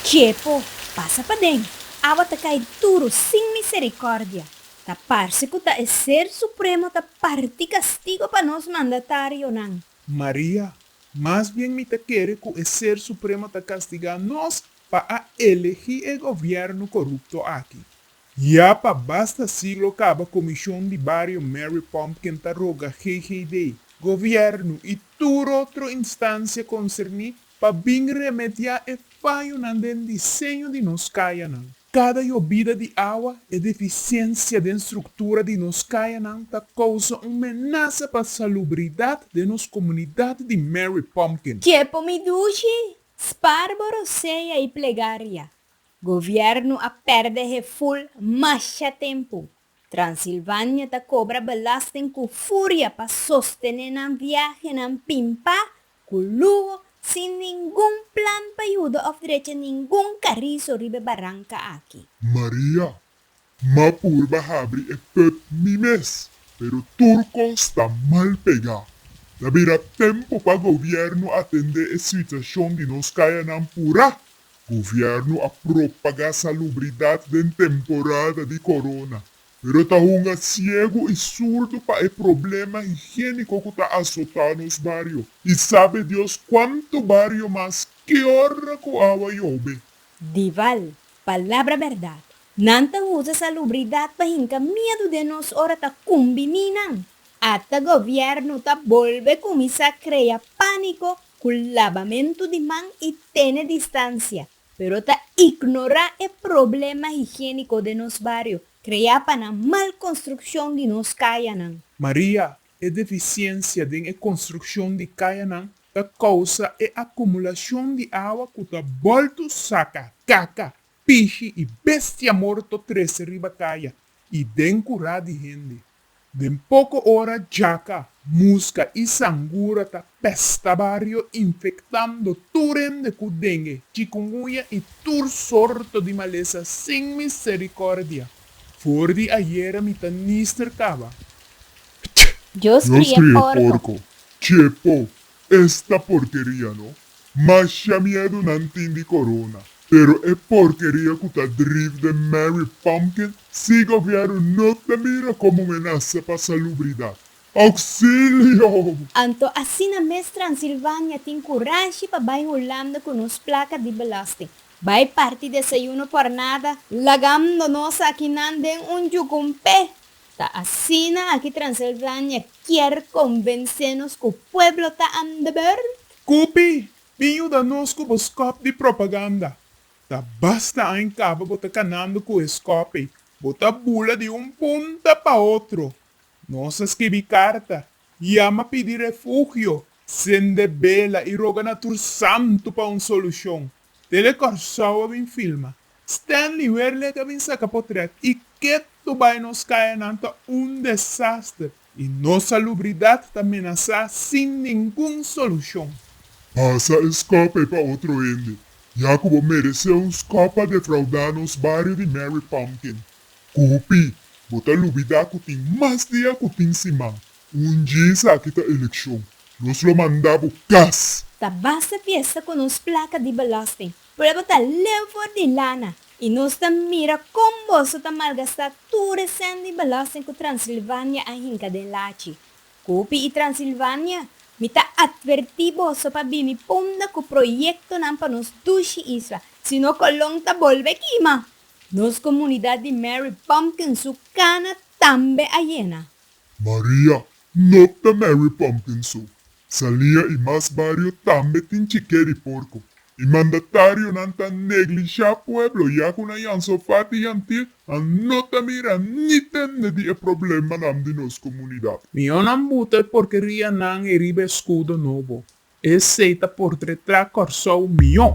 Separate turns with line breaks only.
Txepo, pasa paden! Awa ta kai duru sin misericordia. Ta parce cu ta e Ser Supremo ta parti castigo pa nos mandatarionan. Maria, Mas bien mi ta kere cu e Ser Supremo ta castiga nos pa a elegi e gobierno corupto aki. Ya pa basta si lo caba Comishon di Bario Mary Pumpkin ta roga GGD, Gobierno y tur otro instancia concerni pa bin remedia e fayonan den diseño di nos cayanan. Cada yobida di awa e deficiencia den structura di nos cayanan ta causa un menaza pa salubridad den nos comunidad di Mary Pumpkin. Kepo Midushi, Sparboro Sea y Plegaria. Gobierno a perde heful masha tempu. Transilvania ta cobra belasting cu furia pa sostene nan viahenan pimpa cu luho sin ningun plan pa yuda of drecha ningun carizo riba e baranca aki. Maria, M'a purba habri e pub mi mes, pero tur cos ta mal pegá. Ta bira tempo pa gobierno atendé e situacion di nos cayanan purá. Gobierno a propagá salubridad den temporada di corona, pero ta hunga ciego i surdo pa e problema higiénico cu ta azotá nos bario. I sabe Dios cuanto bario mas ke ora cu awa yobe. Dival, palabra berdad. Nan ta usa salubridat pa hinka miedu den nos ora ta kumbi minan. Ata gobièrnu ta bolbe kuminsá krea pániko ku labamentu di man i tene distansia, pero ta ignorá e problema higiéniko den nos bario kreá pa nan mal konstrukshon di nos kayanan. Maria, E defisiensia den e konstrukshon di kayanan ta kousa e akumulashon di awa ku ta boltu saka kaka Pishi i bestia morto trese riba kaya i den kurá di hende. Den poko ora djaka, muska i sangura ta pèsta bario infektando tur hende ku denge, chikungunya i tur sorto di malesa sin miserikòrdia. For di ayera mi ta nister kaba. Ptch! Dios kria e porko. Chepo! Esta porkeria no. Masha miedu nan tin di corona pero e porkeria cu ta driv den Mary Pumpkin si gobierno no ta mira como un menasa pa salubridad. Auxilio! Anto asina mes Transilvania tin curashi pa bay hulando cu nos placa di belasting. Bay parti desayuno por nada lagando nos akinan den un yucumpe. Ta asina aki Transilvania kier konvensé nos ku pueblo ta aan de beurt? Kupi, bin yuda nos ku bo skòp di propaganda. Ta basta aan kaba bo ta kanando ku e skòp'ei. Bo ta bula di un punta pa otro. Nos a skibi karta, yama pidi refugio, sende bela i roga na tur santu pa un solushon. Tele Kòrsou a bin filma. Stanley Werlek a bin saka potrèt i ketu bai nos kayanan ta un desaster i nos salubridat ta menasá sin ningun solushon. Pasa e skòp ei pa otro hende, ya ku bo meresé un skòp pa defraudá nos bario di Mary Pumpkin. Kupi, bo ta lubidá ku tin mas dia ku tin siman. Un dje esaki ta elekshon. Nos lo manda bo kas. Ta basta fiesta ku nos plaka di belosting. Prueba ta leu for di lana i nos ta mira kon boso ta malgastá tur e sènt di belosting ku Transilvania a hinka den lachi. Kopi i Transilvania, mi ta atvertí boso pa bini punda ku proyektonan pa nos dushi isla, si no Kolon ta bolbe kima! Nos komunidat di Mary Pumpkin su kana tambe a yena. Maria, No ta Mary Pompin su. Salia i mas bario tambe tin chiké di porko. E mandatarionan ta neglishá pueblo ya ku nan yan sofá di yantil, nan no ta mira ni tende di e problemanan di nos komunidat. Miónan buta e porkerianan e riba e skudo nobo. Esey ta por tre tra Kòrsou mion.